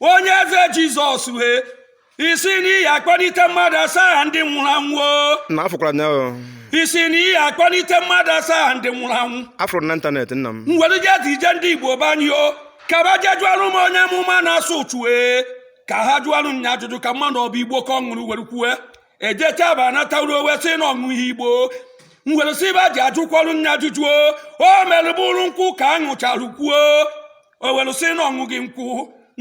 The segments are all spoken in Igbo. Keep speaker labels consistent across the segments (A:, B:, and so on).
A: onye eze jizọs wee sị n'ị ya akpọlite mmadụ asaa ndị nwụrụ anwụ na afụkwara nya
B: o ị sị n'ị
A: ya akpọlite mmadụ asaa ndị nwụrụ anwụ afụrụ na ịntanetị nna
B: m were jezie jee ndị
A: igbo be anyị o ka ba je jụọrụ m onye amụma na-asụ ụchụ e ka ha jụọrụ nya ajụjụ ka m marụ ọ bụ igbo ka ọ ṅụrụ were kwue e jecha ba anataru o wee sị na ọ ṅụghị igbo m were sị ba je ajụkwuorụ nya ajụjụ o mere bụrụ nkwụ ka a ṅụchara kwuo o were sị na ọ ṅụghị nkwụ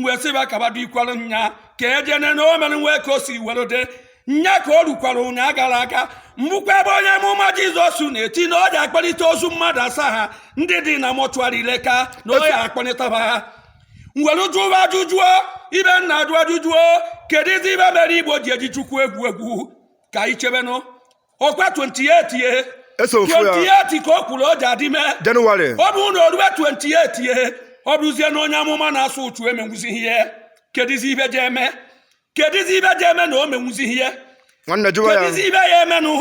A: wee sị ba ka ba dikwara nya ka eje ne na o mere nwee ka o si were dị nya ka o rukwara ụnyaa gara aga m fụkwa ebe onye amụma jizọs na-eti na ọ je akpọlite ozu mmadụ asaa ha ndị dị na mọchụarị ileka na ọ je akpọlite ba ha m were jụwa ajụjụ o ibe m na-ajụ ajụjụ o kedụzi ibe mere igbo ji eji chukwu egwu egwu ka anyị chebenụ ọkwa 28 ye eso ofu ya 28 ka o kwuru ọ je adị ime jenụwarị ọ bụrụ
B: na o
A: rue 28 ye ọ bụrụzie na onye amụma na-asụ ụchụ emenwuzighị ihe kedizi ibe je eme kedizi ibe je eme na o menwuzighị ihe nwanne jụwa
B: ya kedizi ibe ya
A: emenụ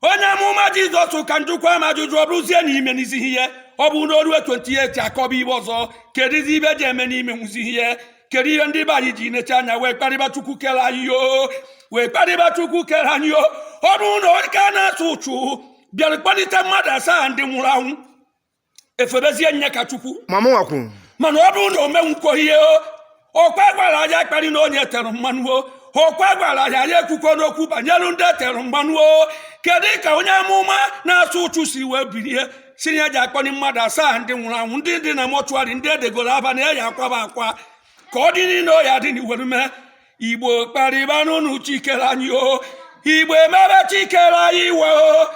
A: onye amụma jizọs ka m jụkwa m ajụjụ ọ bụrụzie na i menwuzighị ihe ọ bụrụ na o rue 28 akọba ibe ọzọ kedizi ibe je eme na i menwuzighị ihe kedu ihe ndị be anyị ji necha anya wee kparịba chukwu kere anyị o wee kparịba chukwu kere anyị o ọ bụrụ nwoke a na-asụ ụchụ bịara kpọlite mmadụ asaa ndị nwụrụ anwụ e febezie nya ka chukwu mama
B: nwakwu mana ọ bụrụ na
A: o menwukwo ihe o ọkwa gwara anyị akparịna onye tere mmanụ o ọkwa gwara anyị anyị ekwukwana okwu banyere ndị tere mmanụ o kedu ka onye amụma na-asụ ụchụ si wee bilie sị na ya je akpọni mmadụ asaa ndị nwụrụ anwụ ndị dị na mọchụarị ndị edegoro aba na ya ya akwa ba akwa ka ọ dị niile ọ ya dị n'iwere mee igbo kparịbanụnụ chi kere anyị o igbo emebe chi kere anyị iwe o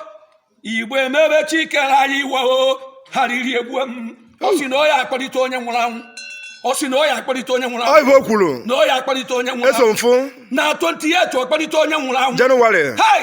A: igbo emebe chi kere anyị iwe o arịrị egbuo m ọ sị na ọ ya akpọlite onye nwụrụ anwụ ọ sị na ọ ya akpọlite onye nwụrụ anwụ
B: ọ ive o kwuru na ọ ya akpọlite onye nwụrụ
A: eso anwụ m
B: fụ na 28
A: ọ kpọlite onye nwụrụ anwụ Jenụwarị hai